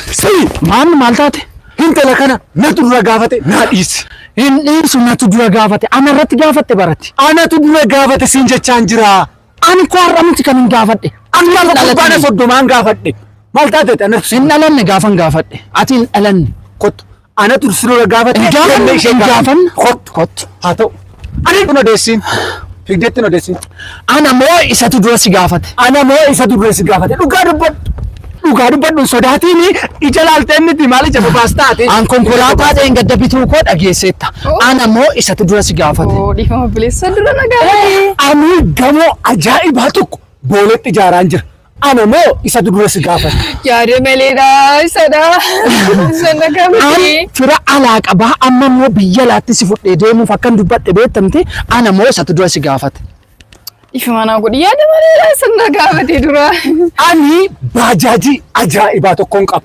Sii! Maammi maal taate? Hintala kana natu dura gaafate naa dhiisi. Hin dhiisu natu dura gaafate ana irratti gaafatte barati. Anatu dura gaafate siin jechaan jira. Ani koo har'a miti kan hin gaafadhe. Ani Amma lafa gubbaana dhalatee. soddomaan gaafadhe. Maal taatete anatu Hin dhalanne gaafan gaafadhe. Ati hin dhalanne. kottu. Ana dur sirra gaafa Hin gaafanne, hin gaafanne. Kottu. Kottu. Haa ta'u. Ani kun odeessiin. Figdeetti hin odeessiin. Ana moo isatu dura si gaafate? Ana moo isa durre si gaafate? Dhugaa dubbadhu. Dhugaa dubbadhu sodaatiin ija laaltee miti maal ija babaas taate. An konkolaataa ta'een gadda bituu koo dhageesseetta. Ana moo isatu dura si gaafate? Oo dhiifama bileessa dura nagaa. Ani gamoo ajaa'ibaa tokko booletti ijaaraan jira. Ana moo isatu dura si gaafata? Yaada maleedha isadha. Isan An akkamitti? fira alaa qabaa amma immoo biyya alaatti si fudhee deemuuf akkan dubbadhe beektamte ana moo isatu dura si gaafata? Ifa manaa godhi yaada maleedha isan na gaafatee dura. Ani baajaajii ajaa'ibaa tokkoon qaba.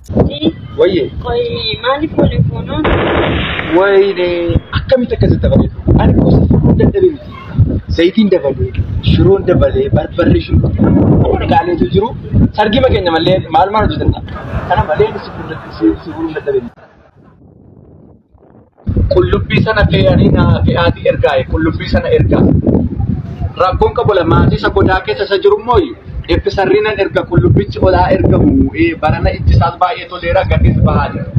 Wayyee. Qoyi maaliif waliin fuunaa? Wayne akkamitti akkasitti dabalee dhufu? Ani gosa fuudhuun dadhabee miti. Zayitiin dabalee, shiroon dabalee, barbarree shunkurtii waan gaaleetu jiru. Sargii makeenya malee maal maal hojjetan? Kana malee si fuudhuun dadhabee miti. Qullubbii sana fe'anii na fe'aatii ergaaye qullubbii sana ergaa. Rakkoon qabola maatii isa godaa keessa isa jiru immoo ibbi sarriinan erga qullubbichi olaa ergamu barana itti isaas baay'ee toleera gadis bahaa jira.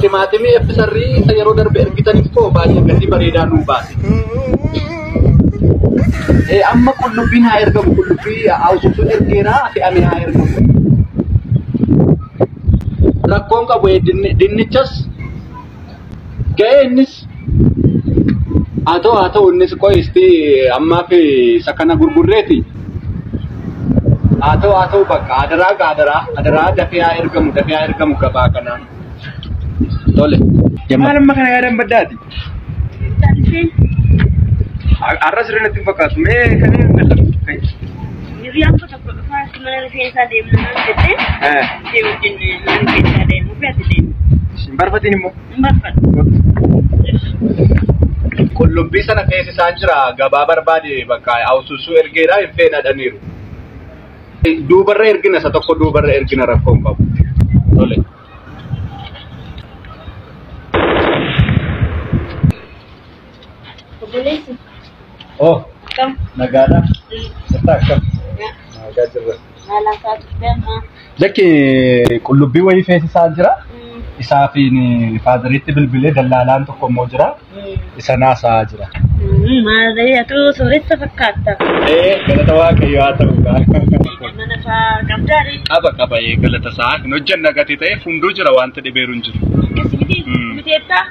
Timaatimii ibbi sarrii isa yeroo darbe ergitan immoo baay'ee gatii bareedaa nuu baase. Amma qullubbiin haa ergamu qullubbii haawusuutu ergeera fe'amee haa ergamu. rakkoon qabu dinnichas ga'ee innis haa ta'u haa ta'u innis qo'isti ammaaf isa kana gurgurreeti haa ta'u haa ta'u bakka hadaraa hadaraa hadaraa dafee haa ergamu dafee haa ergamu gabaa kanaan tole. Maal amma kana yaadan baddaati? Har'a sirrii natti hin fakkaatu mee kan hin Tokko dhufaa akka mana rifeensaa deemna naan jettee Eh, ishee wajjin mana rifeensaa deemu fi ati deemu. Isin barbaadin immoo. Hin barbaadu. Qullubbii sana keessa isaan jira gabaa barbaade bakka hawsusuu ergeedha hin fedhadhaniiru. Duubarra ergina isa tokko duubarra ergina rakkoo hin qabu. Tole. Obboleessi. Oh, Kam? nagaadha. Jirta akkam? Nagaa jirra. Maalaan fa'aa turte amma? Lakki qullubbii wayii feesisaa jira. Isaa fi faadariitti bilbilee dallaalaan tokko immoo jira. Isa naasaa jira. Maalee atu sooressa fakkaata. Ee, galata waaqayyo haa ta'u gaa. Mana fa'aa qabdaadhi. Qaba qaba ee galata isaa hin hojjanna gatii ta'eef hunduu jira wanti dhibeeru hin jiru. Akkasumiti Mm. miteettaa?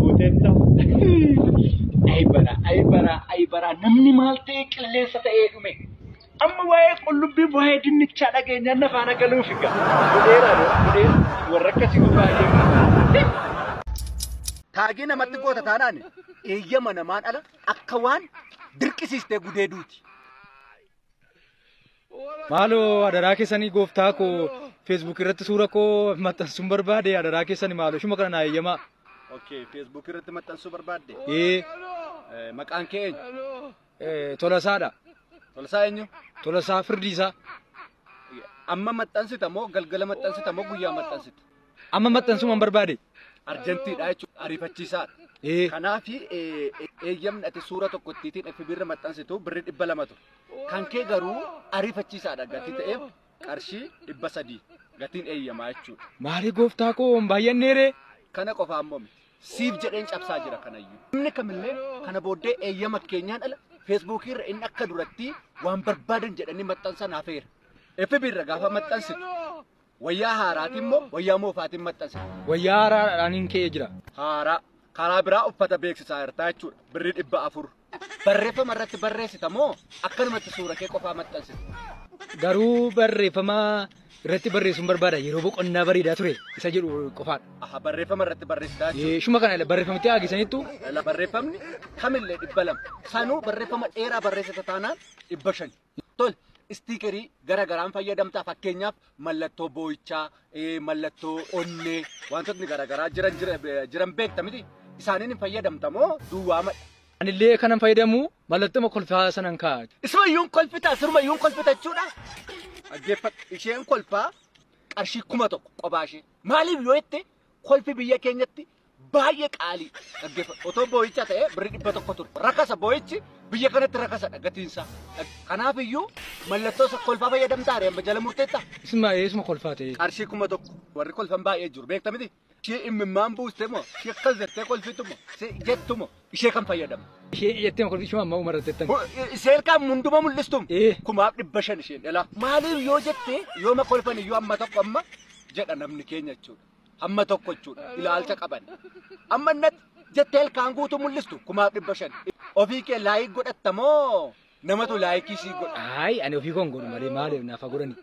Guutetta. Ayi bara, ayi bara, ayi bara. Namni maal ta'ee qilleensa ta'ee dhume. Amma waa'ee qullubbii waa'ee dinnichaa dhageenyaan na faana galuuf egaa. Godheera godhee warra akkasii baay'ee. Taagii namatti goota taanaan eeyyama namaan ala akka waan dirqisiistee gudeeduuti. Maaloo adaraa keessanii gooftaa koo Facebook irratti suura koo maxxansuun barbaade adaraa keessani maaloo ishuma kana naa eeyyamaa. Okay, Facebook irratti maxxansuu barbaadde? Ee Eh, Maqaan kee eenyu? eh, tolasaadha. Tolsaa eenyu? Tolasaa firdiisaa. Amma maxxansita moo galgala maxxansita moo guyyaa maxxansita? Amma maxxansuman barbaade. Arjantiidha jechuudha. Ariifachiisaadha. Ee. Kanaaf eeyyamni ati suura tokko ittiitiin FB irra maxxansitu birri dhibba lama ture. Kan kee garuu ariifachiisaadha gatii ta'eef qarshii dhibba sadii gatiin eeyyamaa jechuudha. Maarii gooftaa koo hin baay'anneeree. Kana qofa ammoo miti. Siif jedheen cabsaa jira kanayyuu. Namni kamillee kana booddee eeyyama keenyaan ala feesbuukii irra inni akka duratti waan barbaadan jedhanii maxxansan hafeera. FB irra gaafa maxxansitu Wayyaa haaraatiin moo wayyaa moofaatiin maxxansa? Wayyaa haaraadhaan hin ka'ee jira. Haaraa. Karaa biraa uffata beeksisaa jirtaa jechuudha. Birri dhibba afur. Barreeffama irratti barreessita moo akkanumatti suura kee qofaa maxxansita? Garuu barreeffama irratti barreessuun barbaada yeroo boqonnaa bareedaa ture isa jedhu qofaadha. Aha barreeffama irratti barreessitaa jechuudha. Eh, Shuma kana barreeffamitti haagisaniittu Barreeffamni kamillee dhibba lama. Sanuu barreeffama dheeraa barreessita taanaan dhibba shani. Tole, istiikerii gara garaan fayyadamta fakkeenyaaf mallattoo boo'ichaa, eh, mallattoo onnee wantootni gara garaa jiran jira- jiran beekta miti isaaniin hin fayyadamta moo duwwaamadha? Anillee kanan fayyadamu mallattoo kolfaa sanan kaa'a. Ismayyuun kolfita, sirmayyuun kolfita jechuudha. Dhaggeeffadhu, isheen kolfaa qarshii kuma tokko qophaa ishee. Maaliif yoo jette kolfi biyya keenyatti baay'ee qaalii dhaggeeffadha. Otoo boo'icha ta'e birri dhibba tokko ture. Rakasa boo'ichi biyya kanatti rakasadha gatiinsaa. Kanaaf iyyuu mallattoo isa kolfaa fayyadamtaa reemma jala murteetta. Isin baay'ee isuma kolfaa ta'e. Qarshii kuma tokko warri kolfan baay'ee jiru beekta miti. Ishee immimmaan buuste moo ishee akkas jettee kolfitu moo ishee jettu moo ishee kan fayyadamu. Ishee jettee kolfi ishuma amma umara jettan. Isheen kan hunduma mul'istum Ee. kumaaf dhibba shan isheen dhalaa. Maaliif yoo jette yooma kolfan iyyuu amma tokko amma jedha namni keenya jechuudha. hamma tokko jechuudha ilaalcha qaban. Amma innatti jettee ilkaan guutuu mul'istu kumaaf dhibba shan. Ofii kee laayik godhatta moo namatu laayikii sii godha? Ayi ani ofii koon godhu malee maaliif naaf haa godhani.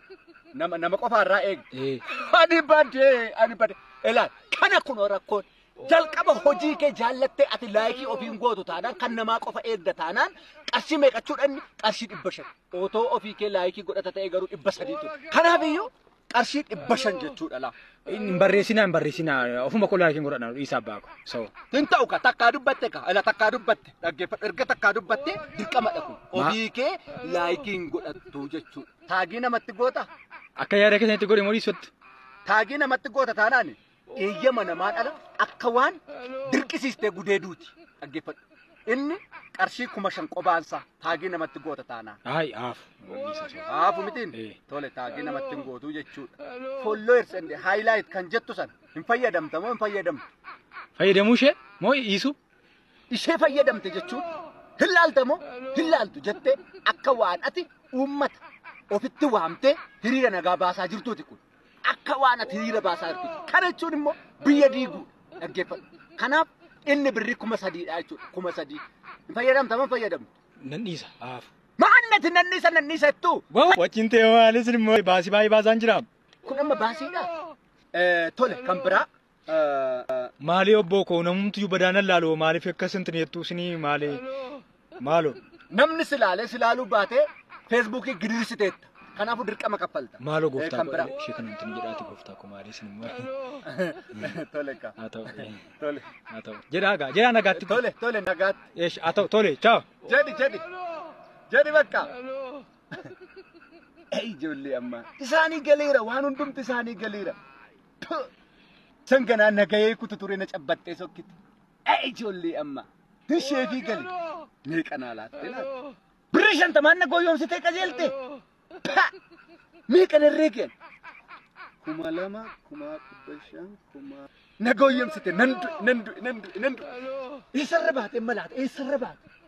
Nama nama qofa irraa eegi. Ee. Ani badee ani badee ilaal kana kunoo rakkoon. Jalqaba hojii kee jaallattee ati laayikii ofiin gootu taanaan kan namaa qofa eegda taanaan qarshii meeqachuudhaan qarshii dhibba shan. Otoo ofii kee laayikii godhata ta'e garuu dhibba sadii ture. Kanaafiyyuu qarshii dhibba shan jechuudha laa. Hin barreessinaa hin barreessinaa ofuma koo laakiin godhadha dhiisaa abbaa koo. So. Hin ta'u ka takkaa dubbatte ka ala takkaa dubbatte dhaggeeffadhu erga takkaa dubbatte dirqamadha kun. Ofii kee laayikiin godhattu jechuudha. Taagii namatti goota. Akka yaada keessanitti godhe moo dhiisutti? Taagii namatti goota taanaani. eeyyama namaa dhala akka waan dirqisiistee gudeeduuti dhaggeeffadhu. Inni qarshii kuma shan qobaansaa taagii namatti goota taanaan. Ayi aaf. Haafu mitiin Eh. tole taagii namatti hin gootuu jechuudha. Followers and highlight kan jettu sana hin fayyadamta moo hin fayyadamtu? Fayyadamuu ishee moo dhiisuu? Ishee fayyadamte jechuun hin laalta moo hin laaltu jettee akka waan ati uummata ofitti waamtee hiriira nagaa baasaa jirtuuti kun. akka waan ati hiriira baasaa jirtuuti. Kana jechuun immoo biyya diiguudha. Dhaggeeffadhu. Kanaaf inni birri kuma sadiidha jechuudha. Kuma sadii. Hin fayyadamta man fayyadamtu. Nan dhiisa haafu. Maannati nanniisa nanniisa jettuu. Wajjin ta'e waalis immoo baasii baay'ee baasaan jira. Kun amma baasiidha. Eh, Tole kan biraa Maalii obboo koo namumtiyyuu badaanan laaloo maaliif akka isin xineettuu isinii maalee maaloo Namni si laalee si laaluu baatee feesbuukii gidirirsiteetta. Kanaafuu dirqama kaffalta. maaloo Eh, gooftaa kan biraa. koo ishee kana hin xinii jedhaati gooftaa koo maalii isin immoo Tole kaa. haa ta'u eh, Tole. haa ta'u jedhaa gaa jedhaa nagaatti Tole tole nagaatti. eesh haa ta'u tole chaaw Jedhi jedhi. Jedhi bakka. Ei ijoollee ammaa. Isaanii galeera waan hundumti isaanii galeera. Puh! San ganaa nagayee kutu ture na cabbattee sokkite. Ee ijoollee amma. Tishee fi gali. Meeqa naa laattee laatte. Birrii shantamaan na gooyoomsitee qajeelte. Pa! Meeqa narree keen. Kuma lama, kuma dhibba shan, kuma. Na gooyoomsite nan du'e, nan du'e, nan du'e, nan du'e. Eessarra baate amma laata? Eessarra baate?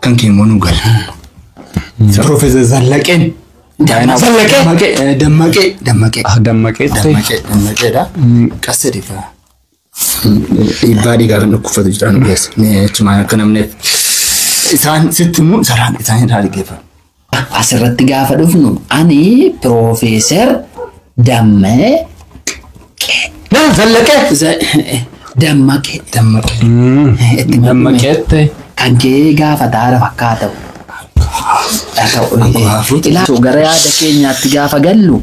Kan kee immoo nu gala. Profeesar Zallaqeen. Daayinaa- Zallaqee. Dammaqee. eh, Dammaqee. Dammaqee. Ah, Dammaqee ta'e. Dammaqee. Dammaqeedha. Qasta dhiifa. Dhiibbaa dhiigaa kan dhukkubsatu jira nu keessa. Mee achumaan akka namni isaan sitti immoo saraan isaanii irraa dhaggeeffatu. As irratti gaafa dhufnu ani Piroofeesar Dammaqee. Naan zallaqee. Dammaqee. Dammaqee. Dammaqeette. Kan kee gaafataadha fakkaata. Gara yaada keenyaatti gaafa gallu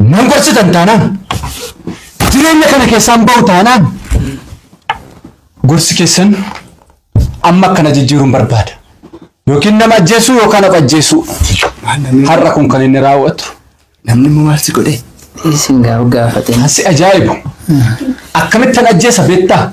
Nan gorsitan taanaan jireenya kana keessaan ba'u taanaan gorsi keessan amma akkana jijjiiruun barbaada. Yookiin nama ajjeesuu yookaan of ajjeesuu. Har'a kun kan inni raawwatu. Namni immoo maal si godhe? Isin gaaf gaafate. Asi ajaa'ibu. Akkamittan ajjeesa beektaa?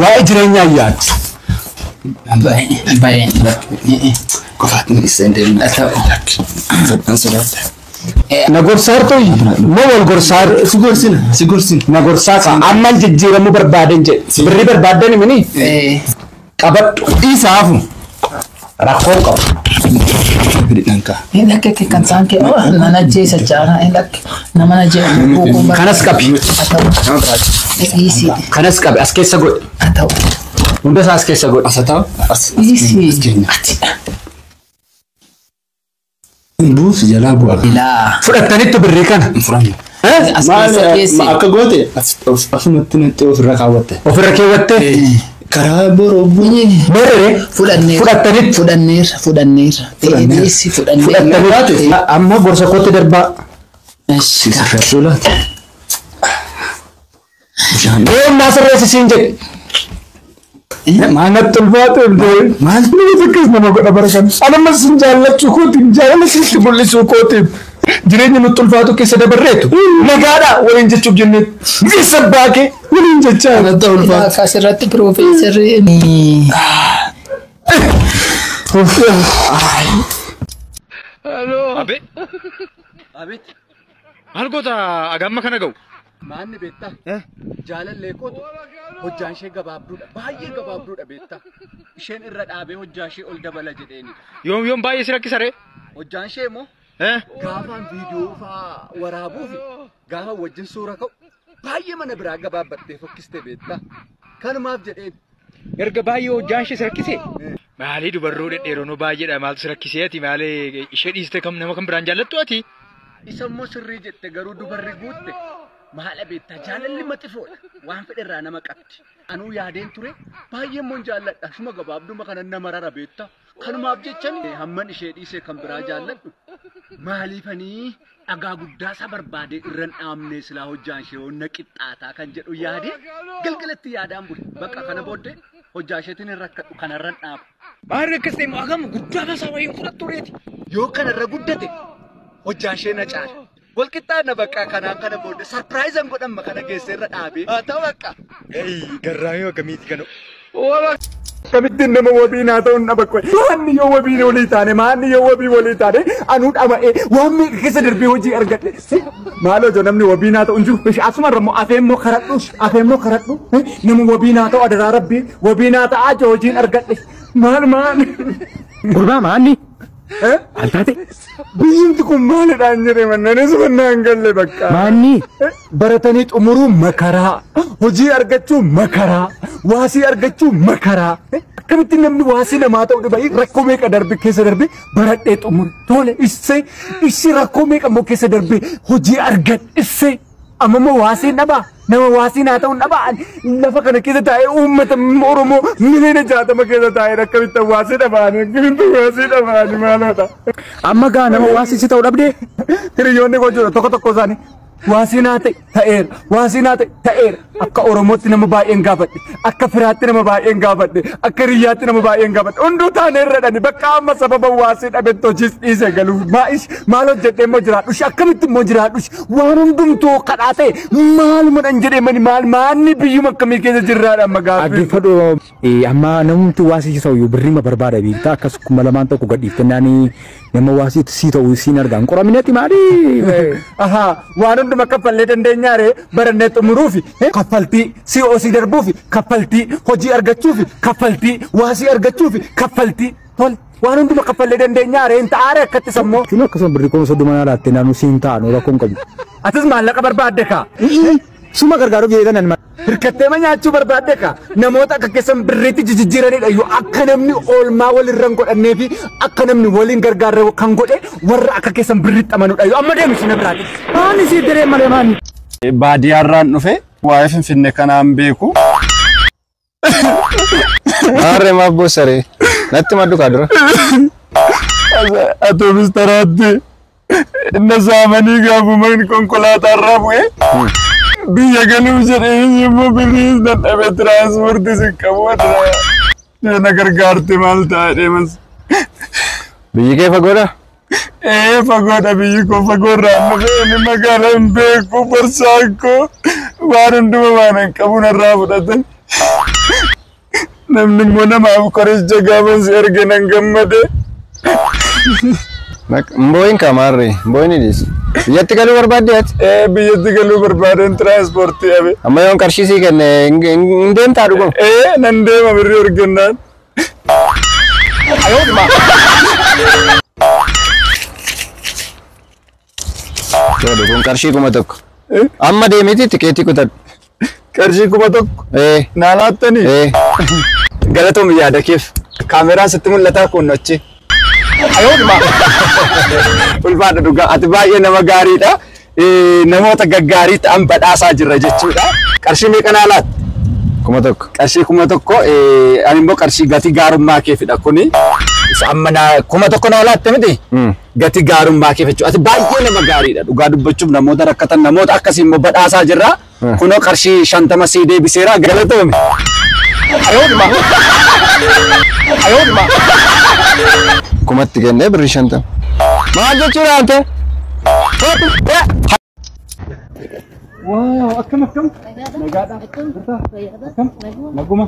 Waa'ee jireenyaa yaaddu. Baay'ee baay'ee lakki. Qofaatti milisee deemu. Fedhan sodaadha. Na gorsaartu moo wal gorsaar Si gorsina si gorsina. na gorsaa ka amman jijjiiramuu barbaaden jedhe birrii barbaadan mini qabadhu Dhiisaafu. Rakkoon qabu. Hin dhakke kee kan saan kee nan ajjeesa jaana hin dhakke nama na jee buukuu bara. Kanas qabi. Haa ta'u. Dhiisii. Kanas qabi as keessa godhi. Haa ta'u. Hundasaa as keessa godhi. Dhiisii. Ati. Buusi jalaa bu'a. Ilaa. Fudhattanitti birrii kana. Hin fudhannu. Eh? As Maal keessa keessi. akka goote as- of- asumatti natti ofirra kaawwatte. Ofirra keewwattee? Karaa boroo bu'ee. Meerre? Fudhanneerra. Fudhattanitti. Fudhanneerra. Fudhanneerra. Fudhanneerra. Eedeessi fudhanneerra. Fudhattanitti. A- Amma gorsa kootti darbaa. Eesh, Siisa. Sulaati. Deem naa sirreessi siin jedhe. Maanatti ulfaatu illee maal nama takkas nama godha bara kana. Anuma sin jaallachuu kootiin jaalala sitti mul'isuu kootiin jireenya nutti ulfaatu keessa dabarreetu nagaadha waliin jechuuf jennee biyyeessa abbaa kee waliin jechaa Maanatti ulfaatu. Akkas irratti piroofeesarri Abe. Abeet. Maal goota agamma kana ga'u? Maanni beektaa? Eh? Jaalallee kootu hojjaan ishee gabaabduudha. Baay'ee gabaabduudha beektaa. Isheen irra dhaabee hojjaa ishee ol dabala jedheeni. Yoom yoom baay'ee si rakkisa ree? Hojjaan ishee immoo Eh? gaafaan viidiyoo fa'aa waraabuu fi gaafa wajjin suura ka'u baay'ee mana biraa gabaabbattee fokkiste beektaa. Kanumaaf jedheen Erga baay'ee hojjaan ishee si rakkise. Maalii dubarroo dhedheeronoo baay'eedha maaltu si rakkisee ati maalee ishee dhiiste kam nama kan biraan jaallattu ati. Isa immoo sirrii jette garuu dubarri guutte maala beektaa jaalalli maxifoodha waan fedhe irraa nama qabdi. Anuu yaadeen ture baay'ee immoo hin jaalladha shuma gabaabduma kanan nama rara beektaa. Kanumaaf jechan hamman ishee dhiisee kan biraa jaalladhu maaliifanii dhagaa guddaa isa barbaadee irran dhaabnee silaa hojjaan ishee onna qixxaataa kan jedhu yaadee galgalatti yaadaan bule bakka kana booddee hojjaa isheetiin hin rakkadhu kanarran dhaabu. Baarri akkas ta'e immoo hagam guddaa basaa wayii fudhattu reeti. Yoo kanarra guddate hojjaa ishee na caala. Walqixxaanna bakka kanaan kana booda sarpiraayizan godhamma kana geesse irra dhaabee. Haa ta'u bakka. Garraamii akkamiiti kana. Akkamittiin nama wabii naa ta'uun dhaba qoy. Maanni yoo wabii walii taane maanni yoo wabii walii taane anuu dhama'ee waan meeqa keessa darbee hojii argadhe. Maaloo jo namni wabii naa ta'u hin jiru. Ishi asuma irra immoo afee immoo karadhu. Afee immoo karadhu. Nama wabii naa ta'u adaraa rabbii wabii naa ta'aa jo hojiin argadhe. Maal maal. Gurbaa maanni. Altaate. Biyyumti kun maalidhaan jedhee mannanis mannaan galle bakka. Maanni. Baratanii xumuruu makaraa. Hojii argachuu makaraa. Waasii argachuu makaraa. Akkamitti namni waasii namaa ta'uu dhiba rakkoo meeqa darbe keessa darbe baradhee xumure. Tole issee issi rakkoo meeqa immoo keessa darbe hojii argadhe issee. Amma immoo waasiin dhabaa nama waasiin haa ta'uun dhabaa ani lafa kana keessa taa'ee uummata Oromoo miliyoona jaatama keessa taa'ee akkamitti waasii dhabaani akkamitti waasii dhabaani maaloodha. Amma gaa nama waasii si ta'u dhabdee Hiriyoonni koo jiru tokko tokko isaanii waasiin haa ta'e ta'eera waasiin haa ta'e ta'eera Akka Oromootti nama baay'een gaafadhe. Akka firaatti nama baay'een gaafadhe. Akka hiriyyaatti nama baay'een gaafadhe. Hunduu taanee irra dhani. Bakka amma sababa waasii dhabetti hojiis dhiisee galuuf. Maa'ish maal hojjedhee immoo jiraadhush. Akkamitti immoo jiraadhush. Waan hundumtuu kadhaa ta'e maaluma dhan jedhee mani maal maanni biyyuma akkamii keessa jirraadha amma gaaffii. Dhaggeeffadhu Amma namumti waa si ta'u birrima barbaada beektaa akkas kuma lamaan tokko gadhiiftennaani nama waa si si ta'u siin argaan qoraminati maali? Aha waan hunduma kaffallee dandeenyaare barannee xumuruufi kaffaltii si osii darbuufi kaffaltii hojii argachuufi kaffaltii waa si argachuufi kaffaltii tol waan hunduma kaffallee dandeenyaare hin ta'aare akkatti sammoo. Kun akkasuma birri kuma soddoma naa laatte naannoo siin ta'an rakkoon qabu. Atis maallaqa barbaadde kaa. Suma gargaaruuf jedhee tanan mara. Hirkatteema nyaachuu barbaadde ka namoota akka keessan birriitti jijjiiranidha iyyuu akka namni oolmaa walirra hin godhannee fi akka namni waliin gargaarre kan godhe warra akka keessan birriitti amanudha iyyuu amma deemu isheen biraati. Maani siif diree malee maani. Baadiyyaarraan dhufe waa'ee Finfinnee kanaan beeku. Maarree maaf boossaree? Natti maddu kaa dura. Atoomis taraatti na saamanii gaafuma konkolaataa irraa bu'ee biyya galuuf jedhee immoo birriis dadhabe tiraanspoortii si qabu na gargaarte maal ta'a deemas. Biyyi kee fagoodha? Ee fagoodha biyyi koo fagoorraan dhufee inni magaala hin beeku barsaan koo waan hunduma waan hin qabu narraa fudhatan. Namni immoo namaaf qoricha gaafa si erge nan gammade. Mbooyin kamaarre mbooyin hidhiis. Biyyatti galuu barbaadde ati? Ee biyyatti galuu barbaadeen tiraanspoortii habe. Amma yoon qarshii sii kenne hin deemtaa dhuguma? Ee nan deema birrii ergennaan. Tole kun qarshii kuma tokko. Amma deemiti tikeetii kutadhu. Qarshii kuma tokko Ee naa laattanii? ee. Galatoom yaada keef. Kaameraan sitti mul'ataa kun achi. Ulfaadha dhugaa ati baay'ee nama gaariidha. namoota gaggaarii ta'an badhaasaa jirra jechuudha. Qarshii meeqa naa laatti? Kuma tokko. Qarshii kuma tokko ani immoo qarshii gatii gaarummaa keefidha kuni. Amma naa kuma tokko naa laatte miti? Gatii gaarummaa keef jechuudha. Ati baay'ee nama gaariidha. Dhugaa dubbachuuf namoota rakkatan namoota akkasii immoo badhaasaa jirra. Kunoo qarshii shantama sii deebiseera galatoomi. Kumatti kennee birrii shantama. Maal jechuudha ante? Waaw akkam akkam nagaadha jirta akkam naguma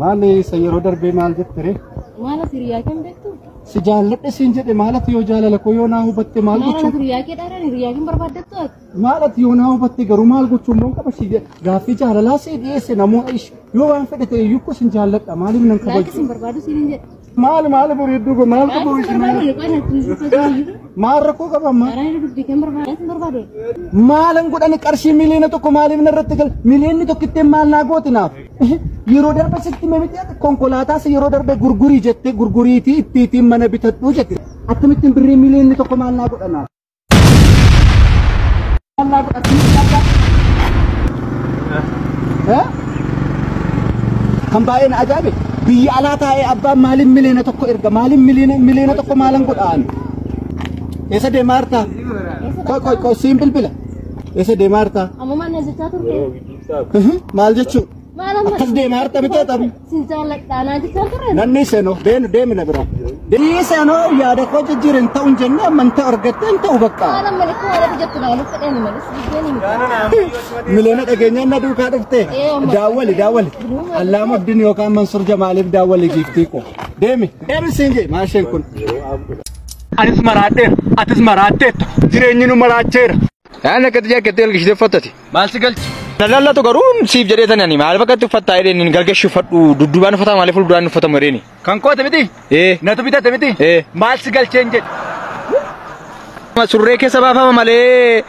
maali isa yeroo darbee maal jette ree Maala hiriyaa kan beektu? si jaalladhe siin jedhe maalatu yoo jaalala koo yoo naa hubatte maal Maala gochuu hiriyaa kee dhaaraan hiriyaa kan barbaaddattu ati? Maal ati yoo naa hubatte garuu maal gochuun moon qaba si gaaffii jaalalaa si dhiyeesse namoota ish yoo waan fedhe ta'e iyyuu kusin jaalladha maaliif nan Laayikii kabaju. sin barbaadu siin hin jedhu. Maal maal bareedduu go maal qabu Laayikii sin barbaadu isin qoyna kun sifa jiru. maal rakkoo qaba ammaa. Karaa irra dubbii kan barbaadu sin barbaadu. Maalan godhani qarshii miliyoona tokko maaliif narratti gal miliyoonni tokkitteen maal naa gooti naaf. Yeroo darbe sitti mimiti konkolaataas yeroo darbe gurgurii jette gurguriitii ittiitiin mana bitadhuu jette. Akkamittiin birrii miliyoonni tokko maal naa godha naaf. Kan baay'een ajaa'ibe biyya alaa taa'ee abbaan maaliin miliyoona tokko erga maaliin miliyoona tokko maalan godhaan eessa deemaa jirta? Qoy qoy qoy siin bilbila eessa deemaa jirta? Ammoo maal na jechaa turte? Maal jechuun? Maal amma? Akkas deemaa jirta bitee taphni. Sin jaalladha naa jechaa ture. Nanni seenoo deenu deemi na bira. Deemi seenoo yaada koo jijjiir hin ta'u hin jenne amantaa argatte hin ta'u bakka. Haala malikuu haala jijjattu naa nuuf fedhee ni malis. Biyyeen hin gaana. Miliyoona dhageenyaan na duukaa dhufte. Daawwali daawwali. Allaama Abdiin yookaan Mansuur Jamaaliif daawwali giiftii koo. Deemi deemi siin jee maasheen kun. Anis maraadheera. Atis maraadheetta. Jireenyi nu maraacheera. Kaan akkatti jaakkattee galgishitee uffattati. Maal si galchi? Lallatu garuu siif jedhee tanani maal fakkatti uffattaa jedheen hin galgashi uffadhu dudduubaan uffataa malee fuulduraan uffatamu jedheeni. Kan koote miti? Ee. Natu bitate miti? Ee. Maal si galcheen jedhe? Surree keessa baafama malee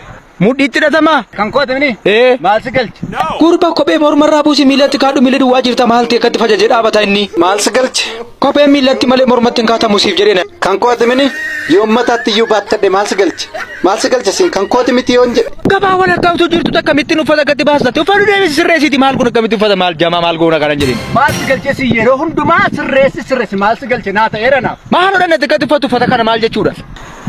mudhiitti hidhatama. Kan koote miti? Ee. Maal si galche? Gurba kophee mormarraa buusi miilatti kaadhu miila duwwaa jirta maal ta'e akkatti fajaje dhaabata inni. Maal si galche? Kopheen miillatti malee mormatti hin kaatamu siif jedhee na. Kan kooti mini yoon mataatti iyyuu baattadhe maal si galche? Maal si galche siin kan kooti miti yoon jedhe. Gabaa walakkaa utuu jirtu akkamittiin uffata gadi baastatti uffatu deebisi sirreessiti maal kun akkamitti uffata maal jamaa maal goona kanan jedhin. Maal si galche siin yeroo hundumaa sirreessi sirreessi maal si galche naa ta'eera naaf. Maal hodhannatti gadi uffatu uffata kana maal jechuudha?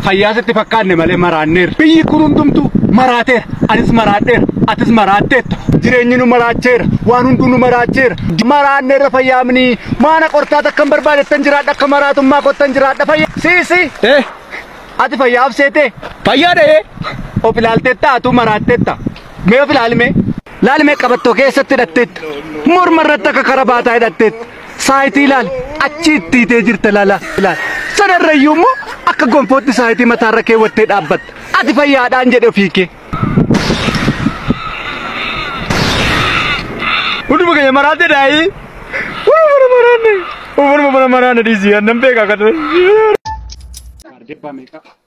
fayyaa sitti fakkaanne malee maraanneerra. Biyyi kun hundumtuu maraateera. Anis maraadheera. Atis maraatteetta. Jireenyi nu maraacheera. Waan hunduu nu maraacheera. Maraanneerra fayyaamni maana qortaa takka hin barbaadettan jiraadha akka maraatummaa kottan jiraadha fayyaa. Siisi Ee ati fayyaa abseetee fayyaa dhahee of ilaalteetta atuu maraatteetta. Mee of ilaalime. Laalime qabattoo keessatti hidhatteetta. Morma irratti akka karabaataa hidhatteetta. saayitii ilaali achi itti itee jirta laala ilaali sanarrayyuu immoo akka gonfootti saayitii mataarra keewwattee dhaabbatta ati fayyaadhaan jedhe ofii kee. Hunduma keenya maraate daa'ii. Hunduma mana maraanne. Hunduma mana maraanne dhiisii annan beekaa kan. Ardebbaa meeqa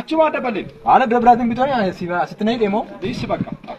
Achumaa dabalee. Haala bira biraatiin bitooni asitti na hidhe moo? Dhiisi bakka.